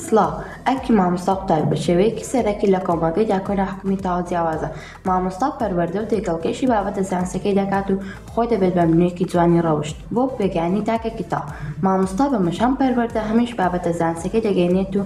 سڵاو ئەرکی مامۆستا قوتابی بە شێوەیەکی سەرەکی لە کۆمەڵگەی دا کۆنە حوکمی تەواو جیاوازە مامۆستا پەروەردە و تێکەڵکێشی بابەتە زانستیەکەی دەکات و خۆی دەبێت بە منوێکی جوانی ڕەوشت بۆ بێگانی تاکێکی تاو مامۆستا بە مشان پەروەردە هەمیش بابەتە زانستیەکەی دەگەینێت و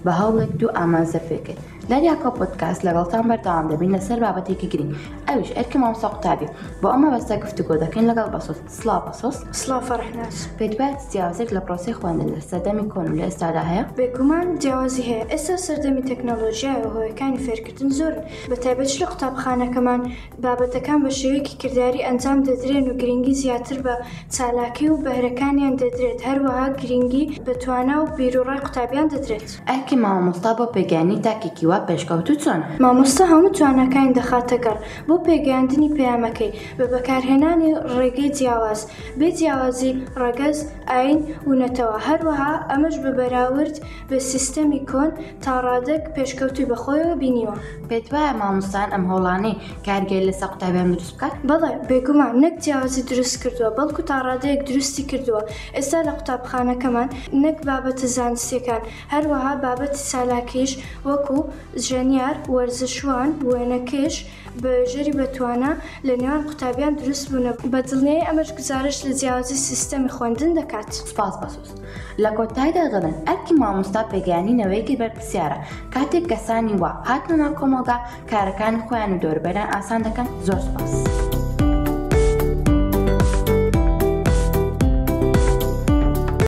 بە هەوڵێک دوو ئامانزە پێکرد دەریا کۆ پۆدکاست لەگەڵتان بەردەوام دەبین لەسەر بابەتێکی گرنگ ئەویش ئەرکی مامۆستا قوتابی بۆ ئەم مەبەستە گفتوگۆ دەکەین لەگەڵ بەسۆز سڵاو بەسۆز سڵاو فەرحناس پێت وایە چ جیاوازێک لە پرۆسەی خواندن لە سەردەمی کۆن و لە ئێستادا هەیە بێگومان جیاوازی هەیە ئێستا سەردەمی تەکنەلۆژیای و هۆیەکانی فێرکردن زۆر بە تایبەت لە قوتابخانەکەمان بابەتەکان بە شێوەیەکی کرداری ئەنجام دەدرێن و گرنگی زیاتر بە چالاکی و بەهرەکانیان دەدرێت هەروەها گرنگی بە توانا و بیروڕای قوتابیان دەدرێت ئەرکی مامۆستا بۆ پێگەیاندنی تاکێکی وا پێشکەوتوو چۆنە؟ مامۆستا هەموو تواناکانی دەخاتە گەڕ بۆ پێگەیاندنی پەیامەکەی بە بەکارهێنانی ڕێگەی جیاواز، بێ جیاوازی ڕەگەز، ئایین و نەتەوە، هەروەها ئەمەش بە بەراورد بە سیستەمی کۆن تاڕادەک پێشکەوتووی بە خۆیەوە بینیوە. پێت وایە مامۆستایان ئەم هەوڵانەی کارگێڕی لەسەر قوتابیان دروست بکات؟ بەڵێ، بێگومان نەک جیاوازی دروست کردووە، بەڵکو تاڕادەیەک دروستی کردووە، ئێستا لە قوتابخانەکەمان نەک بابەتە زانستییەکان، هەروەها بابەتی چالاکیش وەکو ژەنیار، وەرزشوان، وێنەکێش، بەژێری بەتوانا لە نێوان قوتابیان دروست بوون، بە دڵنیایی ئەمەش گوزارشت لە جیاوازی سیستەمی خوێندن دەکات. سپاس بەسوز. لە کۆتایدا دەڵێم ئەرکی مامۆستا پێگەیانی نەوەیەکی بەرپرسیارە، کاتێک کەسانی وا هاتنە ناو کۆمەڵگا کارەکانی خۆیان و دەوروبەریان ئاسان دەکەن، زۆر سپاس.